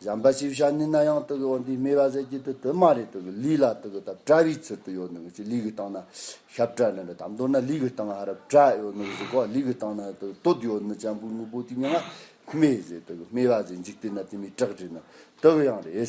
བྱམས་པ་ཞེས་བྱ་ནི་ན་ཡང་དུ་གི་འོ་འདི་སྨྲས་པ་ཟད་ཀྱི་དུ་དུ་མ་རེད་དུ་གི་ལུས་ལ་དུ་གི་ད་བཀྲ་བའི་ཚུལ་དུ་ཡོད་ནུ་གི་ཅི་ལུས་གི་སྟེང་ན་ཤ་བཀྲ་ནི་རེད་དམ་མདོར་ན་ལུས་གི་སྟེང་ཧ་ར་བཀྲ་ཡོད་ནུ་གི་ཟིག་གོ་ལུས་གི་སྟེང་ན་དུ་གི་སྟོད་ཡོད་ནི་གཅན་པོའི་དངོས་པོ་དེ་ཉིད་ང་སྨྲས་ཟེར་དུ་གི་སྨྲས་པ་ཟེར་འཇིག་རྟེན་ན་དེ་མི་སྐྲག་དྲན་ནི་དུ་གི་ཡང་རེད།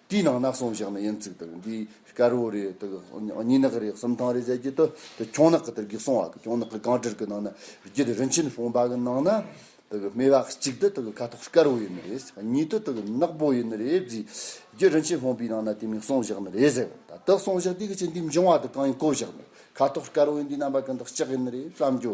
དེའི་ནང་ནག་སོང་བཞག་ན་ཡིན་ཚིག་དག་འདི་དཀར་བོ་རེད་དག་སྙི་ནག་རེད་གསུམ་ཐང་རེད་བྱ་རྒྱུ་དག་དེ་ཁྱུང་ནག་གི་དེར་གེགས་སོང་བ་དག་ཁྱུང་ནག་གི་གང་དྲིར་གི་ནང་ན་རྒྱུ་དེ་རིན་ཆེན་ཕོང་པ་གི་ནང་ན་དག་སྨེ་བ་གཅིག་དེ་དག་ཁ་ཐོག་དཀར་བོ་ཡིན་ནི་རེད་གཉིས་དེ་དག་ནག་པོ་ཡིན་ནི་རེད་རྒྱུ་རྒྱུ་རིན་ཆེན་ཕོང་པའི་ནང་ན་དེ་མིག་སོང་བཞག་ནི་རེད་ཟེར་བ་ད་དག་སོང་བཞག་དེ་གི་ཆེ་འདི་འབྱུང་བ་དག་གང་ཡིན་གོ་བཞག་ནི་ཁ་ཐོག་དཀར་བོ་ཡིན་འདི་རྣམ་པ་གང་དག་ལྕགས་ཡིན་ནི་རེད་བསམ་རྒྱུ་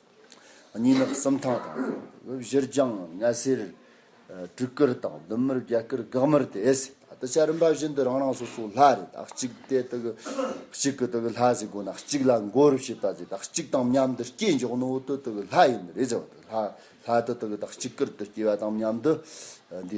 གཉིས་ནི་གསུམ་ཐང་དང། གཞིར་བྱང་ནད་སེལ། སྤྲུལ་སྐུར་དང་བདུད་མུར་རྒྱལ་སྐུར་དགག་མུར་ཏེ་ཨེ་སྲིད། ད་ལྟ་བྱ་རིམ་པ་བཞིན་དུ་རང་རང་སོ་སོའི་ལྷ་རེད་ད་གཅིག་སྟེ་དེ་གི་གཅིག་གི་དེ་གི་ལྷ་ཟེར་དགོས་ན་གཅིག་ལ་མགོ་རུ་བྱེད་པ་ཟེར་ད་གཅིག་དང་མཉམ་དུ་སྐྱེས་མགྱོགས་ནི་འོ་དོ་དེ་གི་ལྷ་ཡིན་ནི་རེད་ཟེར་བ་དེ་ལྷ་ལྷ་དེ་དེ་གི་ད་གཅིག་གིར་དུ་སྐྱེས་པ་དང་མཉམ་དུ་འདི་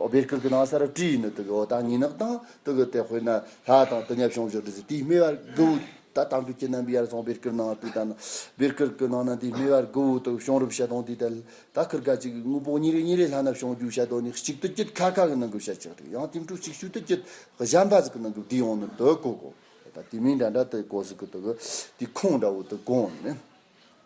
ཨོ་བེར་ཁུག་གི་ནང་སར་བཀྲུས་ཡིན་ནོ་དུ་གི་འོ་དང་ཉིན་ནག་དང་དུ་གི་དེ་དཔེར་ན་ལྷ་དང་དུ་ཉབ་ཤོང་བྱོ་དུ་ཟི་དེའི་སྨེ་བར་གུ་བུ་ད་དང་དུ་ཁྱི་རྣམ་པའི་ཡར་ཚང་བེར་ཁུར་ནང་བཀྲུས་ད་ན་བེར་ཁུར་གི་ནང་ན་དེའི་སྨེ་བར་གུ་བུ་དུ་གི་ཤོང་རུབ་བྱ་དང་དེའི་ད་ད་ཁུར་ག་གཅིག་གི་དངོས་པོ་གཉིས་རེ་གཉིས་རེ་ལྷ་སྣབས་ཤོང་རྒྱུག་བྱ་དོ་ནི་གཅིག་དུ་གྱུད་ཁ་ཁ་གི་ནང་གི་བྱ་ཆག་རེ་ཡང་དེ་འཕྲུ་གཅིག་ཤུ་དུ་གྱུད་གཞམ་པ་ཟི་གི་ནང་གི་བསྡུས་ཡོང་ནི་དུ་གོ་གོ་ད་དེ་མིན་འདྲ་འདྲ་དུ་གོ་ཟི་གི་དུ་གི་དེའི་ཁུང་འདྲ་བོ་དུ་གོ་ནི།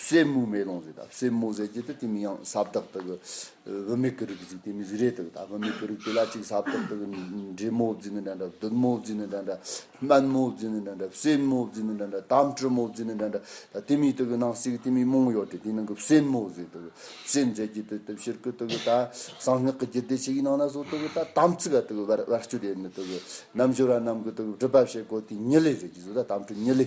བསེ་མོ་མེ་ལོང་ཟེར་དང་བསེ་མོ་ཟེར་གྱི་དེ་མིང་ཡང་ཟབ་དག་དག་གི་བུད་མེད་ཀྱི་རིགས་ཟིག་དེ་མིང་ཟི་རེད་དག་ད་བུད་མེད་ཀྱི་རིགས་དེ་ལ་གཅིག་ཟབ་དག་དག་གི་འབྲི་མོ་བརྫིས་ནི་འདྲ་འདྲ་བདུད་མོ་བརྫིས་ནི་འདྲ་འདྲ་སྨན་མོ་བརྫིས་ནི་འདྲ་འདྲ་བསེ་མོ་བརྫིས་ནི་འདྲ་འདྲ་དམ་གྲི་མོ་བརྫིས་ནི་འདྲ་འདྲ་ད་དེ་མིང་དག་གི་ནང་ཟིག་དེ་མིང་མང་ཡོད་དེ་དེའི་ནང་གི་བསེ་མོ་ཟེར་དག་བསེ་ཟེར་གྱི་དེ་དེབ་ཕྱིར་ཀུ་དག་གི་ད་གསང་སྔགས་ཀྱི་རྒྱུད་སྡེ་ཞིག་གི་ནང་ན་སོ་དག་གི་ད་དམ་ཚིག་དག་གི་བར་བར་གཅོད་ཡོད་ནི་དག་གི་རྣམ་འབྱོར་བ་རྣམས་ཀྱི་དག་གི་སྒྲུབ་པ་བྱེད་དགོས་དེའི་ཉི་ལི་ཟེར་གྱི་ཟོ་ད་དམ་གྲི་ཉི་ལི།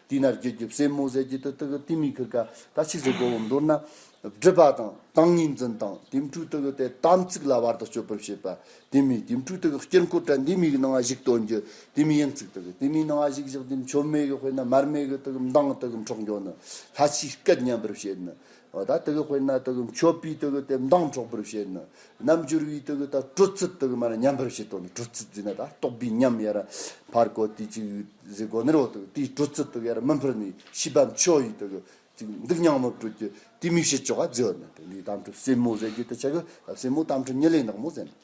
དེས་ན་རྒྱུ་རྒྱུ་བསེ་མོ་ཟས་ཀྱི་དུ་ཏི་གི་ཏི་མི་ཁི་ཀ་ད་ཕྱིས་སུ་གོ་བོ་མདོར་ན། སྒྲིབ་པ་དང་དང་ངེས་འཛིན་དང་དེ་འཕྲུལ་དུ་གི་དེ་དམ་ཚིག་ལ་བར་དུ་གཅོད་པར་བྱེད་པ་དེ་མི་དེ་འཕྲུལ་དུ་གི་དཀྱིལ་འཁོར་དྲན་དེ་མི་གི་སྣང་བ་གཞིག་དོན་རྒྱུ་དེ་མི་ཡན་ཚིག་དུ་གི་དེ་མི་སྣང་བ་གཞིག་གཞག་དེ་མཆོད་མེ་གི་དཔེར་ན་མར་མེ་གི་དུ་གི་མདངས་དུ་གི་འཕྲོག་འགྱོ་ནི་ལྷ་ཕྱིས་སྐད་ཉན་པར་བྱེད་ནི་ད་ལྟ་གི་དཔེར་ན་དེ་གི་མཆོད་པས་དེ་གི་དེབ་མདངས་འཕྲོག་པར་བྱེད་ནི། རྣམ་འགྱུར་བས་དེ་གི་ད་སྤྲོ་ཚིག་དེ་གི་མ་ན་ཉམས་པར་བྱེད་དོ་ནི་སྤྲོ་ཚིག་འཛིན་ན་ད་རྟོག་པའི་ཉམས་ཡ་ར་བར་གོ་དེ་གཅིག་ཡུལ་ཟས་གོ་ནི་རོ་དེ་གི་དེའི་སྤྲོ་ཚིག་དེ་གི་ཡ་ར་མི་འཕེར་ནི་ཤེས་པ་མཆོག་ཡིས་དེ་གི་གཅིག་འདུག་སྙང་མོ་སྤྲོད་ཀྱི་དེའི་མིག་ཤེས་ཆོ་ག་རྫི་བ་མེད་པས་འདིའི་གཏམ་ཁྲོད་སེན་མོ་ཟེར་རྒྱུ་དེ་ཆ་གི་སེན་མོ་གཏམ་ཁྲོད་ཉི་ལེ་ནག་མོ་ཟེར་ནི།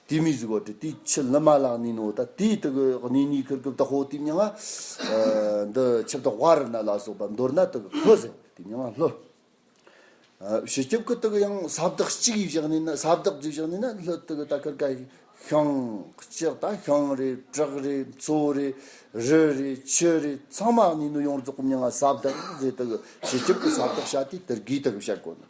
དེ་མི་གཟིགས་བར་དུ་དེའི་ཆུ་ལི་མ་ལག་ནས་ནོ་ད་དེའི་དུག་གི་གནས་ནི་ཁུར་གུབ་དང་ཧོ་དེའི་མྱང་ང། འདི་ཆིབས་དང་བྷ་རི་ན་ལ་སོགས་པ་མདོར་ན་དུག་གི་ལྷོ་ཟེར་དེའི་མྱང་ང་ལྷོ། བྱི་སྐྱོབ་ཀྱི་དུག་ཡང་ས་བདག་གཅིག་གིས་བཞག་ནས་ན་ས་བདག་རྫིས་བཞག་ནས་ན་ལྷོ་དུག་ད་ཁུར་ག་ཤང། ལྕགས་དང་ཤང་རེ་བྲག་རེ་མཚོ་རེ་རི་རེ་ཆུ་རེ་ཚང་མ་གནས་ནོ་ཡོངས་རྫོགས་ཀྱི་མྱང་ང་ས་བདག་ཟེར་དུག་གི་བྱི་སྐྱོབ་ཀྱི་ས་བདག་བྱ་དེའི་དུར་གིས་དུག་བྱ་དགོས་ནོ།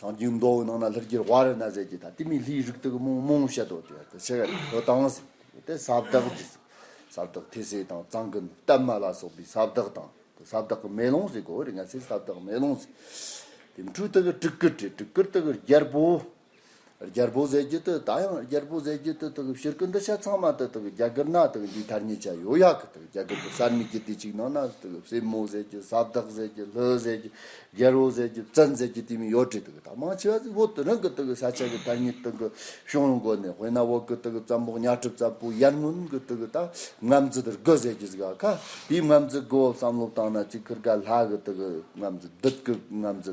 སངས་རྒྱས་མདོ་དབུས་ནང་ན་ལྷུར་གྱུར་བ་རི་ན་ཟས་ཀྱི་ད་ལྟའི་མིའི་ལྷའི་རིགས་དག་མོང་མོང་བཤད་དོ་ཅེས་པ་ཞེས་བྱ་བའི་དོན་དང། དེ་ས་བདག་གི་ས་བདག་ཐོས་སྲས་དང་གཙང་ཀུན་བཏབ་མ་ལ་སོགས་པའི་ས་བདག་དང། དེ་ས་བདག་གི་མེ་ལོང་ཟེ་གོ་རི་ང་ཟེ་ས་བདག་མེ་ལོང་ཟེ། དེ་འཕྲུལ་དག་གི་སྤྲུལ་སྐུ་སྤྲུལ་སྐུར་དག་གི་རྒྱལ་པོ། རྒྱལ་པོ་ཟས་རྒྱུད་དུ་ད་ཡང་རྒྱལ་པོ་ཟས་རྒྱུད་དུ་དང་ཕྱིར་ཀུན་ཏུ་ཤ་ཚང་མ་དུ་དང་རྒྱ་གར་ནག་དང་འདིའི་ཐར་ཉེ་ཆ་ཡོད་ཡག་གི་དང་རྒྱ་གར་དུ་གསར་མིག་གི་དེ་གཅིག་ནང་ན་དང་སྲས་མོ་ཟས་རྒྱུད་ས་བདག་ཟས་རྒྱུད་ལྷོད་ཟས་རྒྱུད་རྒྱལ་བོ་ཟས་རྒྱུད་བཙན་ཟས་རྒྱུད་དེ་མིན་ཡོད་དྲི་དང་དང་མང་ཆེ་བ་ཟིག་བོད་དུ་རང་གི་དང་ས་ཆ་གི་ཐར་ཉེ་དང་གཤོང་རུ་འགོ་ནས་དཔོན་ནག་བོད་གི་དང་བཙན་པོ་གཉའ་གྲུབ་ཙམ་པོ་ཡར་སྔོན་གི་དང་ད་ངམ་རྫི་དར་དགུ་ཟས་རྒྱུད་ཟིག་ཨ་ཁ་དེའི་ངམ་རྫི་དགུ་བོ་བསམ་བློ་བཏང་ན་ཅིག་ཁུར་ག་ལྷ་གི་དང་ངམ་རྫི་བདུད་ཀྱི་ངམ་རྫི་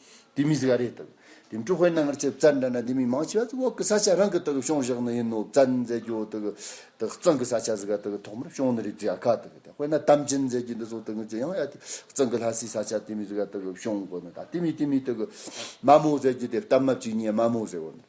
དེ་མི་གཟིགས་ག་རེ་དང། དེ་འཕྲུལ་དཔོན་རྣམས་སྔར་ཆད་བཙལ་འདྲ་ན་དེ་མི་མང་ཆེ་བ་ཚོ་འོག་གི་ས་ཆ་རང་གི་དག་ཤོང་བཞག་ནི་ཡིན་ནོ་བཙལ་མཛད་རྒྱུ་དག་བཙོན་གི་ས་ཆ་གཟིགས་ག་དག་ཐོག་མར་ཤོང་ནི་རེད་ཅེས་ཡ་ག་དག་དེ་དཔོན་ན་དམ་ཅན་མཛད་རྒྱུ་འདི་ཚོ་དག་ངོས་ཀྱི་ཡང་ཡ་དེ་བཙོན་གི་ལྷ་སའི་ས་ཆ་དེ་མི་གཟིགས་ག་དག་ཤོང་དགོས་ནི་ད་དེ་མི་དེ་མི་དག་མ་མོ་བཟས་རྒྱུ་དེ་སྟབས་མ་བཅུག་ཉེས་མ་མོ་བཟས་འོ་ནི།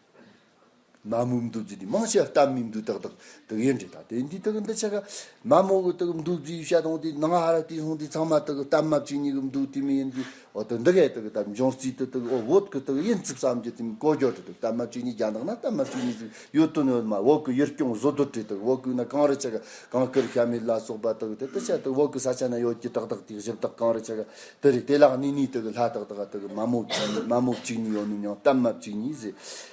མ་མོ་འདུ་བརྫི་ནི་མང་ཆེ་བ་གཏམ་མིན་འདུག་ཏག་ཏག་དག་ཡོད་འདྲེ་དང་དེ་འདི་དག་གི་འདི་ཆ་ག། མ་མོ་གི་དག་འདུ་བརྫི་ཡུལ་ཤ་དང་དེ་ནང་ཧ་ར་ཏི་སོང་དེ་ཚང་མ་དག་གི་གཏམ་མ་བཅུ་གཉིས་གི་འདུག་དེ་མི་ཡིན་དེ་འོ་དོ་འདི་གའི་དག་གི་དག་འབྱུང་རྩིས་དེ་དག་འོ་འོད་ཀི་དག་ཡིན་རྩིབ་བསམ་རྒྱུ་དེ་མི་གོ་རྒྱོ་དྲི་དག་གཏམ་མ་བཅུ་གཉིས་རྒྱ་ནག་ན་གཏམ་མ་བཅུ་གཉིས་ཟིག་ཡོད་དོ་ནི་འོ་མ་འོ་ཀི་ཡུལ་སྐྱོང་བཟོ་རྡོ་དྲི་དག་འོ་ཀི་ན་གང་རི་ཆ་ག་གང་ཀི་རི་ཤ་མི་ལ་སོགས་པ་དག་དེ་དག་ཆ་དག་འོ་ཀི་ས་ཆ་ན་ཡོད་ཀི་ཏག་ཏག་དེ་གཞི་བདག་གང་རི་ཆ་ག་དེ་རི་དེ་ལག་ནི་ནི་དག་གི་ལྷ་དག་དག་ག་དག་གི་མ་མོ་བཅུ་གཉིས་མ་མོ་བཅུ་གཉིས་ཡོད་ནི་ཡང་གཏམ་མ་བཅུ་གཉིས་ཟིག།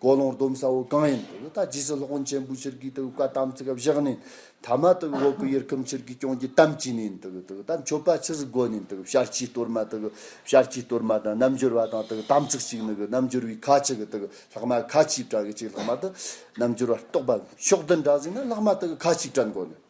ཀོ་ལོང་སྡོམ་ས་བོ་གང་ཡིན་དུ་ལ་ད་རྗེས་སུ་སློབ་དཔོན་ཆེན་པོའི་ཕྱིར་གྱི་དུ་བཀའ་དམ་ཚིག་བཞག་ནས་ཐ་མ་དུ་འོག་གི་ཡུལ་ཁམས་ཕྱིར་གྱི་སྐྱོང་རྒྱུ་དམ་བཅས་ནས་དུ་དུ་ད་མཆོད་པ་ཕྱི་སྒོ་ནས་དུ་བྱར་སྐྱེས་གཏོར་མ་དུ་བྱར་སྐྱེས་གཏོར་མ་དང་རྣམ་འབྱོར་བ་དང་དུ་དམ་ཚིག་གཅིག་ནི་རྣམ་འབྱོར་བའི་ཁ་ཅིག་དུ་ལྷག་མ་ཁ་ཅིག་བྲང་གི་ཅིག་ལྷག་མ་དུ་རྣམ་འབྱོར་བ་རྟོགས་པ་ཕྱོགས་བདུན་འདྲ་ཟིན་ན་ལྷག་མ་དུ་ཁ་ཅིག་བྲང་སྒོ་ནས།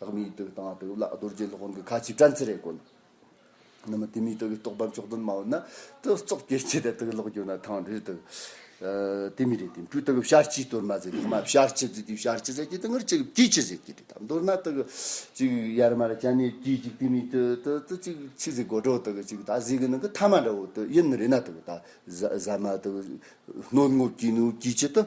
ལྷག་མའི་དུག་དང་དུག་ལ་རྡོ་རྗེ་སློབ་དཔོན་གྱི་ཁ་ཆེའི་སྤྲན་ཚེ་རེ་བཀོལ། ནུ་མ་དེ་མའི་དུག་གི་རྟོག་པ་མཆོག་ཏུ་སྨྲ་བ་ན། དུག་བཙོག་སྐྱེ་མཆེད་དེ་དུག་ལོག་གྱུར་ན་ཐང་འདྲིར་དུག། དེ་མི་རེ་དེ་སྤྲུལ་དུག་གི་བཤར་གྱིས་གཏོར་མ་ཟེར་ལྷག་མ་བཤར་གྱིས་བརྫིས་ཏེ་བཤར་གྱིས་ཟེར་གྱིས་དུག་ངར་གཅིག་གིས་བརྫིས་གྱིས་ཟེར་གྱིས་དྲིས་དང་མདོར་ན་དུག་གཅིག་ཡར་མར་བྱ་ནས་གྱིས་གཅིག་དེ་མའི་དུག་དུག་དུག་གཅིག་ཕྱིས་ཟིག་དགོད་བྲོ་དུག་གི་གཅིག་དག་ཟིག་གི་ནང་གི་ཐ་མ་འདྲ་བོ་དུག་ཡིན་མི་རེ་ན་དུག་དག་ཟ་མ་དུག་གནོད་ངོ་གྱིས་ནུ་གྱིས་ཅི་དུག་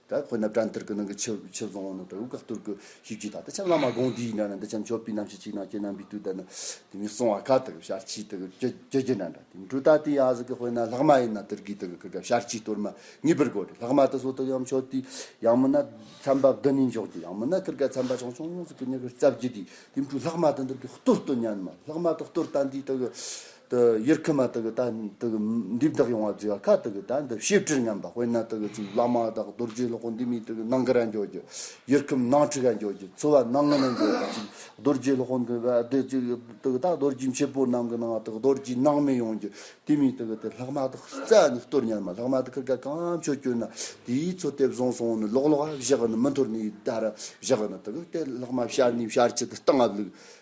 ད་ཁོ་ནབ་ཏྲ་འདིར་གི་ནང་གི་ཆུ་ཆུ་བཟང་བོ་ནབ་ཏྲ་འུག་ག་སྟུར་གི་ཤིག་ཅིག་ད་ད་ཆ་བླ་མ་དགོངས་འདིའི་ནང་ན་འདི་ཆམ་ཆོ་པི་ནམ་ཤི་ཅིག་ནང་སྐྱེས་ན་འབི་ཏུ་ད་ནི་དེ་མི་སོང་བ་ག་ད་གི་ཤར་ཕྱི་ད་གི་ཀྱེ་ཀྱེ་ཀྱེ་ན་འདྲ་དེ་འབྲུ་ད་དེ་ཡང་ཟིག་གི་དཔེ་ན་ལྷག་མ་ཡིན་ན་དིར་གི་ད་གི་གི་ག་ཤར་ཕྱི་གཏོར་མ་གཉིས་པར་དགོས་རེད་ལྷག་མ་ད་སོ་ད་ཡམ་ཆོ་དེ་ཡང་མི་ན་ཚན་པ་བདུན་ནས་འཇོག་རྒྱུ་ཡང་མི་ན་གི་ག་ཚན་པ་ཆུང་ཆུང་ཡོང་ཟིག་གི་ནི་གི་རྩ་བརྒྱུད་དེ་དེ་འབྲུ་ལྷག་མ་ད་འདིར་གི་གཏོར་གཏོར་ཉན་མ་ལྷག་མ་ད་གཏོར་ད་འདི་ད་གི་དུ་ཡུལ་ཁུལ་མ་དག་གི་དག་འདུག་འདི་དག་ཡོང་བ་བརྫི་བ་ཁ་དག་གི་དག་འདུག་ཞིབ་ཕྲིར་ཉམས་པ་དཔེར་ན་དག་གི་བླ་མ་དག་རྡོ་རྗེའི་ལོ་ཀོ་འདི་མི་དག་གི་ནང་གི་ར་འཇོག་རྒྱུ། ཡུལ་ཁུལ་ནང་ཁྲི་ག་འཇོག་རྒྱུ་ཚུ་བ་ནང་ངོས་ནས་འཇོག་པ་ཅིག་རྡོ་རྗེའི་ལོ་ཀོ་འདི་བ་འདི་ཅིག་དག་གི་དག་རྡོ་རྗེ་མཆེད་པོ་ནང་གི་ནང་བ་དག་རྡོ་རྗེའི་ནང་མི་ཡོང་རྒྱུ་དེ་མི་དག་གི་དེ་ལྷག་མ་དག་རྩ་ནི་གཏོར་ཉར་མ་ལྷག་མ་དག་ཁུར་ཁ་གང་མཆོག་བསྐྱོན་ན་དེའི་ཚོ་དེ་བཟང་སོང་ནི་ལོག་ལོག་བཞག་ནི་མི་འཐོར་ནི་ཡི་དར་བཞག་ནི་དག་གི་དེ་ལྷག་མ་བཤར་ནི་བཤར་ཆུ་དེ་སྟངས་བླུགས།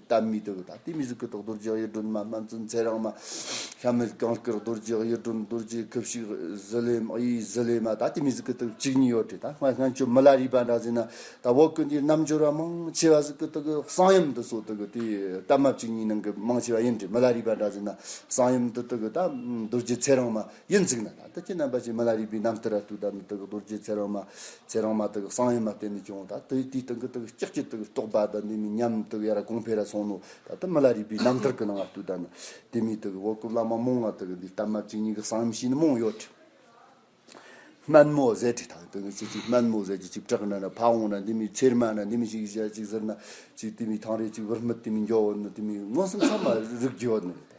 ལྟ་མི་དགོས་དང་དེ་མི་གཟུགས་ཀྱི་ཐོག་རྡོ་རྗེ་གཡུ་སྒྲོན་མ་སྨན་བཙུན་ཚེ་རིང་མ། ཤ་མེད་གངས་སྐྱོར་རྡོ་རྗེ་གཡུ་སྒྲོན་རྡོ་རྗེ་ཁབ་ཞིག་གཟི་ལེ་མ་གཡུའི་གཟི་ལེ་མ་དང་དེ་མི་གཟུགས་ཀྱི་ཐོག་གཅིག་ཉིད་ཡོད་དེ་དང་སྔར་སྔན་ཆུ་མི་ལ་རིག་པ་འདྲ་ཟིན་ན་ད་འོག་ཀུན་དེའི་རྣམ་འབྱོར་བ་མང་ཆེ་བ་གཟུགས་ཀྱི་ཐོག་གསང་ཡུམ་དུ་སོགས་གཏོད་དེ་སྟབས་མ་གཅིག་གཉིས་ནང་གི་མང་ཆེ་བ་ཡིན་དྲི་མི་ལ་རིག་པ་འདྲ་ཟིན་ན་གསང་ཡུམ་དུ་གཏོད་དང་རྡོ་རྗེ་ཚེ་རིང་མ་གཡུ་འཛིག་ན་དང་དུ་ཅི་རྣམ་པ་ཅིག་མི་ལ་རིག་པའི་རྣམ་ཐར་ར་གཏོད་དང་མི་གཏོད་རྡོ་རྗེ་ཚེ་རིང་མ་ཚེ་རང་མ་དག་གི་སངས་ཡོད་མ་བསྟན་ནས་བྱུང་བ་ད་དེ་དེའི་སྟེང་གི་དག་ལྕགས་ཀྱི་དག་རྟོག་པ་དང་དེ་མི་ཉམས་དག་ཡར་གོང་འཕེལ་ར་སོང་ནོ་ད་ལྟ་མི་ལ་རིགས་པའི་རྣམ་ཐར་གི་ནང་ལྟུ་དང་ནི་དེ་མི་དག་བོད་སྐུ་བླ་མ་རྨོངས་ང་དག་འདི་ལྟ་མ་ཅི་ཉིད་གི་གསང་མི་ཤེས་ནི་རྨོངས་ཡོད་དྲི། སྨན་མོ་ཟས་དྲི་དག་དེ་ནི་ཅི་ཅིག་སྨན་མོ་ཟས་ཀྱི་ཅིག་བྲག་ན་ནི་ཕ་འོང་ན་དེ་མི་ཚེར་མ་ན་དེ་མི་ཞིག་ཞལ་ཅིག་ཟིར་ན་ཅིག་དེ་མི་ཐང་རེ་ཅིག་བུར་སྨིད་དེ་མི་འགྱོ་བོ་ནི་དེ་མི་མངོན་སུམ་ཚང་མ་རིག་རྒྱུ་ཡོད་ནི་རེད།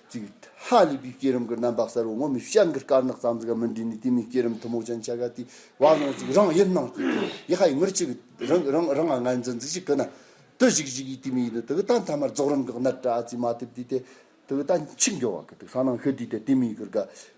ཙིག། ཧ་ལས་པའི་སྐས་རིམ་གྱི་རྣམ་པ་གསལ་བོ་ངོ་མི་ཤེས་གི་དཀར་ནག་རྩ་འཛུགས་ཀ་མི་འདྲེས་ནས་དེ་མིན་སྐས་རིམ་ཐུ་མོ་ཅན་ཆ་ག་དེའི་བར་སྣང་ཅིག་རང་ཡིད་སྣང་སྐྱེས་ཏེ་ཡེ་ཧ་ཡི་ངུར་ཅིག་རང་རང་རང་ང་འཛིན་འཛིན་ཅིག་གི་ན་དུ་བཞུགས་བཞུགས་ཡིད་དེ་མི་ཡིན་ནོ་དུ་གི་ད་མཐའ་མར་རྫོགས་རིམ་གྱི་སྣར་བཀྲ་ཙིས་མ་ཐེབས་དུས་དེ་དུ་གི་ད་འཆི་འགྱོ་བ་གི་དུ་ས་ནང་ཤོད་དུས་དེ་དེ་མིན་གི་དགའ་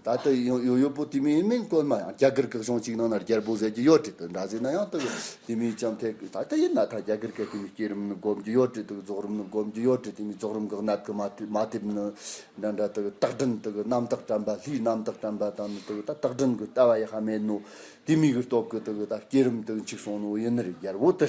ད་ལྟ་ཡོད་ཡོད་པོ་དེ་མིན་ཡིན་མིན་དཀོན་མ་ཡང་རྒྱ་གར་གེགས་གཞུང་གཅིག་ནང་ན་རྒྱལ་པོ་ཟེར་གྱི་ཡོད་བྲིས་འདུག་འདྲ་ཟེར་ན་ཡང་ལྟོས་ཡོད་དེ་མིན་བྱམས་ཐད་ཀྱི་ད་ལྟ་ཡིན་ན་ད་རྒྱ་གར་གེགས་དེ་མིན་སྐྱེ་རིམ་ནི་སྒོམ་གྱི་ཡོད་བྲིས་འདུག་རྫོགས་རིམ་ནི་སྒོམ་གྱི་ཡོད་བྲིས་དེ་མིན་རྫོགས་རིམ་གང་སྣབས་ཀྱི་མ་ཐེབས་ནི་འདྲ་འདྲ་དེ་རྟགས་འདྲེན་དེ་རྣམ་དག་དྲན་པ་ལྷའི་རྣམ་དག་དྲན་པ་དང་ནི་དེ་རྟགས་འདྲེན་གྱི་ལྟ་བ་ཡེ་ཤ་མེད་ནོ། དེ་མིན་གྱི་སྟོབས་ཀྱི་དེ་ད་སྐྱེ་རིམ་དེ་གཅིག་སོང་ནོ་ཡིན་ནི་རེད་རྒྱལ་པོ་དེ།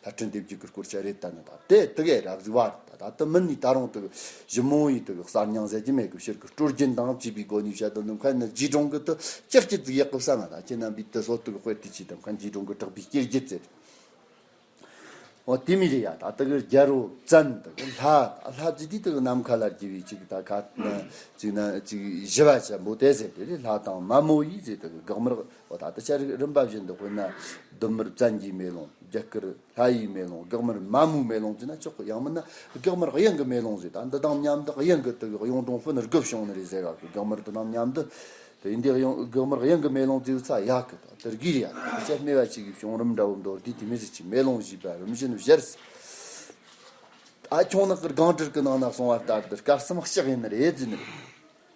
ལྷ་བྲན་སྡེ་བརྒྱུད་ཀྱི་སྐོར་ཅི་རེད་ལྟ་ན་ད་དེ་དག་ཨེ་རག་ཟིག་བ་རེད་ད་ད་ལྟ་མི་ནི་ད་རུང་དེ་གི་གཞི་མོ་ཡི་དེ་གི་གསར་རྙང་ཟེར་གྱི་མེད་གི་ཕྱིར་གི་སྤྲོ་སྐྱིད་དང་བཅས་པའི་སྒོ་ནས་བཤད་དོ་འདེམས་ཁ་ནི་རྗེས་འབྲང་གི་དུ་སྐྱེར་སྐྱིད་ཟིག་ཡག་གི་བསམ་ན་ད་ཁྱེད་རྣམ་པའི་དེ་སོག་དེ་གི་དཔེར་དེ་ཆེས་འདེམས་ཁ་རྗེས་འབྲང་གི་དྲག་པའི་སྐྱེར་སྐྱིད་ཟེར། འོ་དེ་མི་རེད་ཡ་ད་དེ་གི་རྒྱལ་རོ་བཙན་དེ་གི་ལྷ་ད་ལྷ་རྫི་དེ་དེ་གི་ནམ་མཁའ་ལ་རྒྱལ་བའི་ཆེ་གི་ད་ཁ་ན་ཅིག་ན་ཅིག་བཞི་བ་ཆེན་པོ་དེ་ཟེར་དེ་རེད་ལྷ་དང་མ་མོ་ཡིས་ཟེར་དེ་གི་དགག་མི་རག། ཨོ་ད་ལྟ་ཤར་རིགས་རིམ་པ་བཞི་འདི་དཔེར་ན་ལྡུམ་མར་བཙན་གྱིས་མེ་ལོང་རྒྱ་སྐུར་ལྷ་ཡིས་མེ་ལོང་སྒེག་མར་མ་མོའི་མེ་ལོང་བཙུད་ན་ཆོག་གོ་ཡང་མིན་ན་སྒེག་མར་གཡང་གི་མེ་ལོང་བཟོས་ད་འདི་དང་མཉམ་དུ་གཡང་གི་དུ་བའི་གཡུང་དྲུང་ཕུ་ནུ་རྒོད་བྱུང་ནི་རེད་ཟེར་ཡག་གི་སྒེག་མར་དུ་ནང་མཉམ་དུ་དེ་ཡིན་དུས་སྒེག་མར་གཡང་གི་མེ་ལོང་བཙུད་ཚ་ཡག་གི་ད་དེར་གིར་ཡག་གི་དེ་ཆ་སྨེ་བ་ཅིག་གིས་བྱུང་རིམ་འདྲ་བོ་མདོར་བསྡུས་དེ་མི་ཟེར་ཅིག་མེ་ལོང་བཞི་པའི་རིམ་བཞིན་བཞིར་ཟེར། ཨ་ཁྱུང་ནག་གི་སྒང་དྲུག་གི་ནང་ན་སོང་བ་ལྟར་འདི་སྐབས་སམ་གཤེགས་ཡིན་ནི་རེད་བཙུད་ནི་རེད།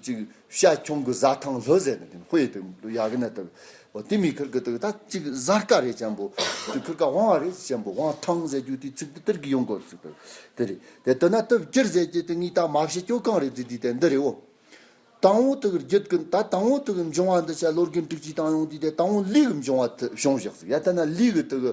གཅིག་ཤ་ཁྱུང་གི་བཟའ་ཐང་ལྷོད་ཟེར་ནས་དེ་ཧོའི་དེ་ཡ་གི་ནད་དུ་བ་དེ་མི་ཁར་གི་དུ་ད་གཅིག་བཟའ་དཀའ་རེད་ཅན་པོ་དེ་ཁར་ག་བང་བ་རེད་ཅན་པོ་བང་ཐང་ཟེར་རྒྱུ་དེ་ཚིག་དེ་དེར་གི་ཡོང་གོ་ཚིག་དེ་དེ་རེད་དེ་དུ་ན་དུབ་སྐྱིར་ཟེར་གྱི་དེ་ངའི་ད་མ་བྱེད་སྐྱོ་གང་རེད་དེ་དེ་དེ་འདི་རེད་བོ། དང་བོ་དེ་གི་རྒྱུད་གི་ད་དང་བོ་དེ་གི་འབྱུང་བ་འདི་བྱ་བློ་རྒན་དྲུག་ཅུའི་དང་ཡོང་དེ་དེ་དང་བོ་ལུས་གི་འབྱུང་བ་དེ་བྱུང་ཞག་ཚིག་ཡ་དེ་ན་ལུས་གི་དེ་གི་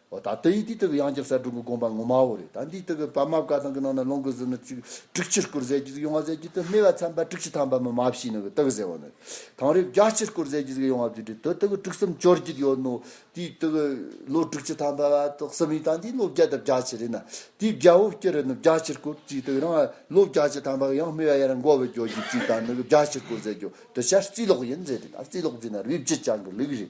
འོ་ད་དེ་ཡིས་དེའི་སྟེང་གི་དབྱངས་ཀྱི་གསལ་སྒྲོན་གྱི་དགོངས་པ་ངོ་མ་བོ་རེད་ད་འདིའི་སྟེང་གི་པདྨ་བཀའ་ཐང་གི་ནང་ན་ལོངས་སྐུ་ཟིལ་གནོན་གཅིག་དྲུག་ཕྱིར་བསྐུར་ཟེར་གྱི་ཟིག་ཡོང་བ་ཟེར་གྱི་དེ་སྨྲས་པ་ཚན་པ་དྲུག་ཅུ་ཐམ་པ་མི་མ་བཞིའི་ནང་གི་སྟེང་གི་ཟེར་བ་ནི་དང་རེ་བརྒྱ་ཕྱིར་བསྐུར་ཟེར་གྱི་ཟིག་ཡོང་བ་བརྒྱུད་དེ་དོ་དེ་གི་དྲུག་གསུམ་བཅོར་གྱི་ཡོད་ནོ་དེའི་སྟེང་གི་ལོ་དྲུག་ཅུ་ཐམ་པ་བ་དོག་གསུམ་ཡིན་ད་འདིའི་ལོ་བརྒྱ་དང་བརྒྱ་ཕྱི་རེད་ན་དེའི་བརྒྱ་བོ་སྐྱེ་རེ་ནི་བརྒྱ་ཕྱིར་བསྐུར་ཅིག་དེ་རང་ལོ་བརྒྱ་ཅུ་ཐམ་པ་གི་ཡང་སྨྲས་པ་ཡ་ར་མགོ་བོ་འགྱོ་གྱི་ཅིག་ད་ནི་བརྒྱ་ཕྱིར་བསྐུར་ཟེར་གྱི་དོ་ཤ་རྩིས་ལོག་ཡིན་ཟེར་དེ་ད་རྩིས་ལོག་རྩིས་ན་རུས་བརྒྱུད་ཅང་གི་ལུགས་རེད་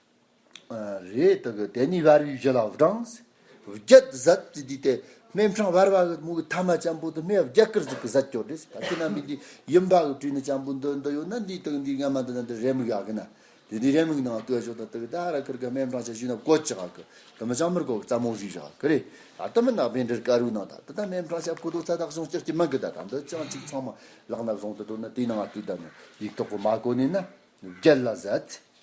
རེད་དག་གི་དེ་ནི་བར་བའི་བཞི་ལ་བགྲངས། བརྒྱད་དུ་ཟད་དེ་དུས་དེ་སྨད་འཕྲང་བར་བ་གི་མུ་གི་ཐ་མ་ལྕམ་པོ་དུ་སྨད་བརྒྱད་ཀར་གཟིགས་ཀི་ཟད་ཀྱོ་དྲེས་བར་གི་ན་མི་འདི་ཡིན་བར་གི་དྲུས་ན་ལྕམ་པོ་འདི་འདི་ཡོད་ན་འདི་དག་འདི་སྔ་མ་འདི་ན་འདི་རེ་མིག་ཡག་གི་ན་དེ་འདི་རེ་མིག་ནང་ལྟོས་ཆོག་ད་དག་གི་ད་ར་ཁར་གི་སྨད་འཕྲང་ཆ་ཞུས་ན་བཀོད་ཅི་ག་གི་དུ་མི་ལྕམ་མར་གོ་གི་རྩ་མོ་གཟིགས་བཞག་གི་རེད་ད་དུ་མི་ནག་པའི་འདྲིར་ཀ་རུའི་ནང་ད་དུ་ད་སྨད་འཕྲང་ཆ་ཕུ་ཐོག་ཚ་དག་བྱུང་སྐྱག་གི་མིག་གི་ད་ད་འདི་ཅང་གཅིག་ཚང་མ་ལག་ན་བཟུང་དུ་འགྲོ་ན་དེའི་ནང་དུ་ད་ནི་ཡིག་ཐོག་གི་མ་གོ་ནས་ན་བརྒྱད་ལ་ཟད།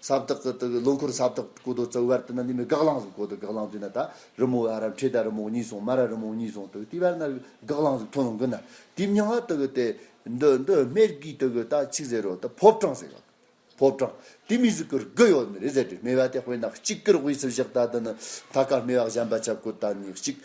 ས་བདག་གི་དུག་གི་ལོ་འཁོར་ས་བདག་གོ་དོ་ཙོ་བར་དུ་ན་ནི་མི་དགག་བླང་གཟུགས་གོ་དོ་དགག་བླང་དུས་ན་ད་རི་མོ་ཨ་རབ་འཁྲིད་ད་རི་མོ་གཉིས་སོང་མ་ར་རི་མོ་གཉིས་སོང་དུག་དེ་བར་ན་རི་དགག་བླང་གཟུགས་མཐོང་ལོ་འགུལ་ན་དེ་མྱང་བ་དུག་གི་དེ་འདི་འདི་སྨེར་དགུའི་དུག་གི་ད་ཆིག་ཟེར་རོ་ད་ཕོབ་གྲང་ཟེར་ག་ཕོབ་གྲང་དེ་མི་གཟུགས་གུར་དགུ་ཡོད་ནི་རི་ཟེར་དྲི་སྨེ་བ་དེ་དཔེ་ནག་གཅིག་གུར་དབུས་སུ་བཞག་ད་དུ་ནི་ཐ་ཀ་སྨེ་བ་བཞམས་པ་ཆབ་གོ་ད་ནི་གཅིག།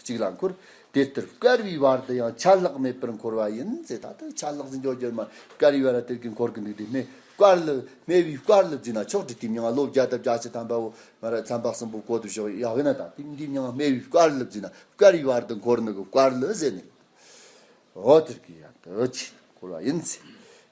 གཅིག་ལ་འཁོར། དེ་ལྟར་དཀར་བའི་བར་དུ་ཡང་ཆ་ལྷག་མེད་པར་འཁོར་བ་ཡིན་ཚེ་ད་ལྟ་ཆ་ལྷག་ཟིན་ཆོག་རྒྱུར་མ་དཀར་བའི་བར་དེར་གྱིས་འཁོར་གྱི་འདུག་དེ་སྨེ་དཀར་ལ་སྨེ་བའི་དཀར་ལ་བརྫུས་ན་ཆོག་དྲི་དེ་མྱང་བློ་བརྒྱ་དང་བརྒྱ་ཆ་ཐམ་པའོ། སྨེ་ར་ཚན་པ་གསུམ་པོ་བཀོད་དུ་བཞག་ཡ་བའི་ན་དང་དེ་མྱང་སྨེ་བའི་དཀར་ལ་བརྫུས་ན་དཀར་བའི་བར་དུ་འཁོར་ནུ་གི་དཀར་ལ་ཟད་ནས། འོ་དེར་གྱིས་ཡང་དུ་ཆེས་འཁོར་བ་ཡིན་ཚེ།